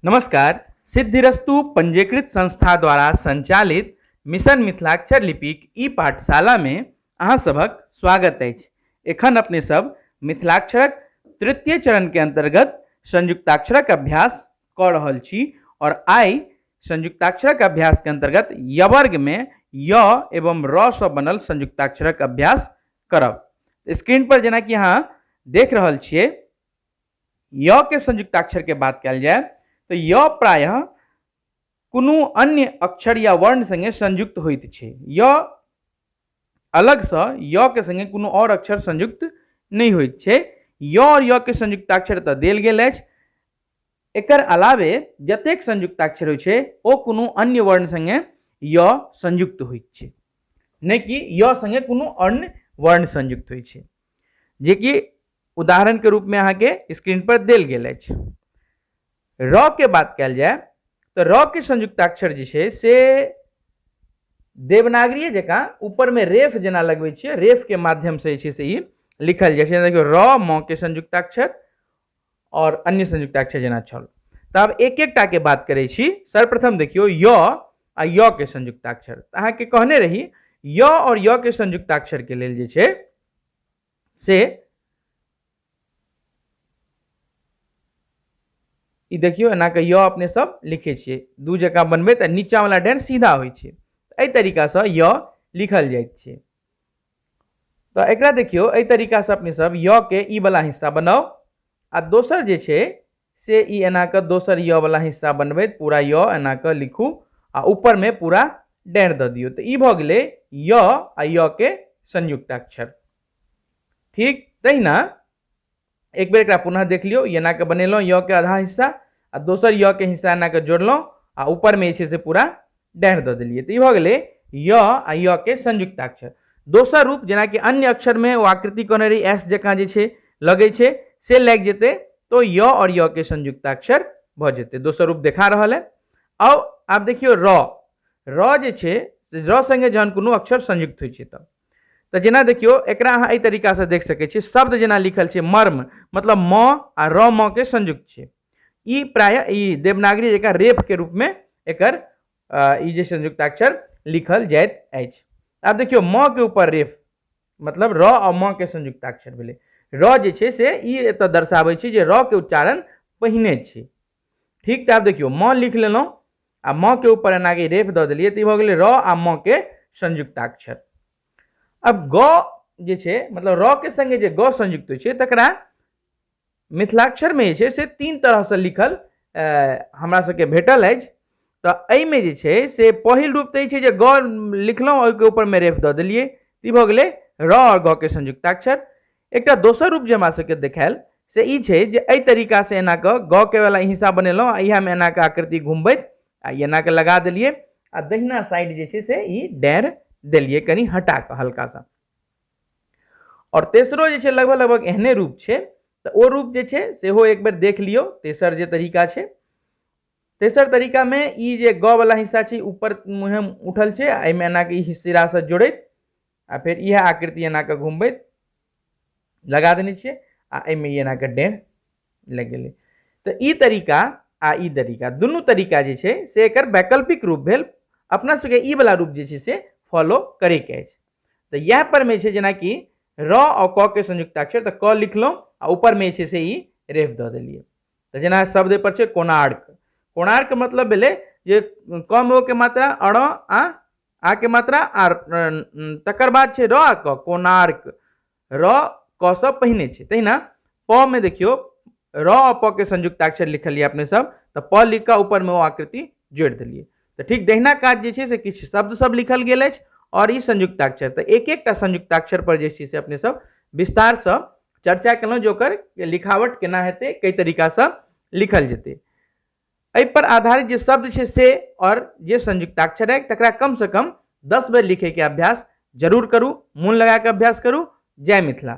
नमस्कार सिद्धिरस्तु पंजीकृत संस्था द्वारा संचालित मिशन मिथिलाक्षर लिपिक ई पाठशाला में अहाँ सभक स्वागत अछि एखन अपने सब मिथिलाक्षरक तृतीय चरण के अंतर्गत संयुक्ताक्षरक अभ्यास कऽ रहल छी और आइ संयुक्ताक्षरक अभ्यास के अंतर्गत यवर्ग में य एवं र सँ बनल संयुक्ताक्षरक अभ्यास करब स्क्रीन पर जेनाकि अहाँ देख रहल छियै य के संयुक्ताक्षर के बात कल जाए तो य प्रायः कोनो अन्य अक्षर या वर्ण संगे संयुक्त होइत छै य अलगसँ य के संगे कोनो और अक्षर संयुक्त नहीं होइत छै य और य के संयुक्ताक्षर तऽ देल गेल अछि एकर अलावे जतेक संयुक्ताक्षर होइ छै ओ कोनो अन्य वर्ण संगे य संयुक्त होइत छै नहि कि य संगे कोनो अन्य वर्ण संयुक्त होइ छै जे कि उदाहरण के रूप में अहा के स्क्रीन पर दिल गए र के बात कल जाए तो र के संयुक्ताक्षर जो है से देवनागरी जका ऊपर में रेफ जना लगवे छे रेफ के माध्यम से छे से ही लिखल जाए छे देखियो र म के संयुक्ताक्षर और अन्य संयुक्ताक्षर जना छल तब एक एक टा के बात करे छी सर्वप्रथम देखियो य आ य के संयुक्ताक्षर अहा के कहने रही य और य के संयुक्ताक्षर के लेल जे छे से ई देखियौ एना कऽ य अपने सब लिखै छियै दू जकाँ बनबै तऽ नीचाँवला डेन सीधा होइ छै एहि तरीकासँ य लिखल जाइत छै तऽ एकरा देखियौ एहि तरीकासँ अपने सब य के ई वाला हिस्सा बनाउ आ दोसर जे छै से ई एना कऽ दोसर य वला हिस्सा बनबैत पूरा य एना कऽ लिखू आ ऊपर मे पूरा डैँड़ दऽ दियौ तऽ ई भऽ गेलै य आ य के संयुक्ताक्षर ठीक तहिना एक बेर एकरा पुनः देख लियौ ई एना कऽ बनेलहुँ य के आधा हिस्सा आ दोसर य के हिस्सा एना कऽ जोड़लहुँ आ ऊपर मे जे छै से पूरा डैह दऽ देलियै तऽ ई भऽ गेलै य आ य के संयुक्ताक्षर दोसर रूप जेनाकि अन्य अक्षरमे ओ आकृति कहने रही एस जकाँ जे छै लगै छै से लागि जेतै तो य और य के संयुक्ताक्षर भऽ जेतै दोसर रूप देखा रहल है आउ आब देखियौ र र जे छै र संगे जहन कोनो अक्षर संयुक्त होइ छै तऽ तऽ जेना देखियौ एकरा अहाँ एहि तरीकासँ देख सकै छियै शब्द जेना लिखल छै मर्म मतलब म आ र म के संयुक्त छै ई प्राय ई देवनागरी जकाँ रेपके रूपमे एकर ई जे संयुक्ताक्षर लिखल जाइत अछि आब देखियौ म के ऊपर रेफ मतलब र आ म के संयुक्ताक्षर भेलै र जे छै से ई एतऽ दर्शाबै छै जे र के उच्चारण पहिने छै ठीक तऽ आब देखियौ म लिख लेलहुँ आ म के ऊपर एना के रेफ दऽ देलियै तऽ ई भऽ गेलै र आ म के संयुक्ताक्षर अब ग जे छै मतलब र के संगे जे ग संयुक्त होइ छै तकरा मिथिलाक्षरमे जे छै से तीन तरहसँ लिखल हमरा सबके भेटल अछि तऽ एहिमे जे छै से पहिल रूप तऽ ई छै जे ग लिखलहुँ ओहिके ऊपरमे रेफ दऽ देलियै ई भऽ गेलै र आओर ग के संयुक्ताक्षर एकटा दोसर रूप जे हमरा सबके देखायल से ई छै जे एहि तरीकासँ एना कऽ ग के वला हिस्सा बनेलहुँ आ इएहमे एना कऽ आकृति घुमबैत आ ई एना कऽ लगा देलियै आ दहिना साइड जे छै से ई डाँड़ि देलियै कनि हटा कऽ हल्का सा आओर तेसरो जे छै लगभग लगभग एहने रूप छै तऽ ओ रूप जे छै सेहो एक बेर देख लियौ तेसर जे तरीका छै तेसर तरीकामे ई जे ग वला हिस्सा छै ऊपर मुँहे उठल छै आ एहिमे एनाके ई सिरासँ जोड़ैत आ फेर इएह आकृति एनाके घुमबैत लगा देने छियै आ एहिमे ई एनाके डेढ़ लागि गेलै तऽ ई तरीका आ ई तरीका दुनू तरीका जे छै से एकर वैकल्पिक रूप भेल अपना सबके ई वला रूप जे छै से फॉलो करैके अछि तऽ इएह परमे छै जेनाकि र आ क के संयुक्ताक्षर तऽ क लिखलहुँ आ ऊपरमे जे छै से ई रेफ दऽ देलियै तऽ जेना शब्द एहिपर छै कोणार्क कोणार्क मतलब भेलै जे कम ओ के मात्रा अण आ आ के मात्रा आ तकर बाद छै र आ क कोणार्क र क से पहिने छै तहिना प में देखियो र आ प के संयुक्ताक्षर लिखलिए अपने सब तो प लिख के ऊपर में ओ आकृति जोड़ दिलिए तो ठीक दहिना काज जे छै से किछु शब्द सब लिखल गेल अछि और ई संयुक्ताक्षर तो एक एकटा संयुक्ताक्षर पर जे छै से अपने सब विस्तार से चर्चा केलहुँ जे ओकर लिखावट केना हेतै कई तरीका से लिखल जेतै एहिपर आधारित जे शब्द छै से आओर जे संयुक्ताक्षर अछि तकरा कमसँ कम दस बेर लिखैके अभ्यास जरूर करू मोन लगाकऽ अभ्यास करू जय मिथिला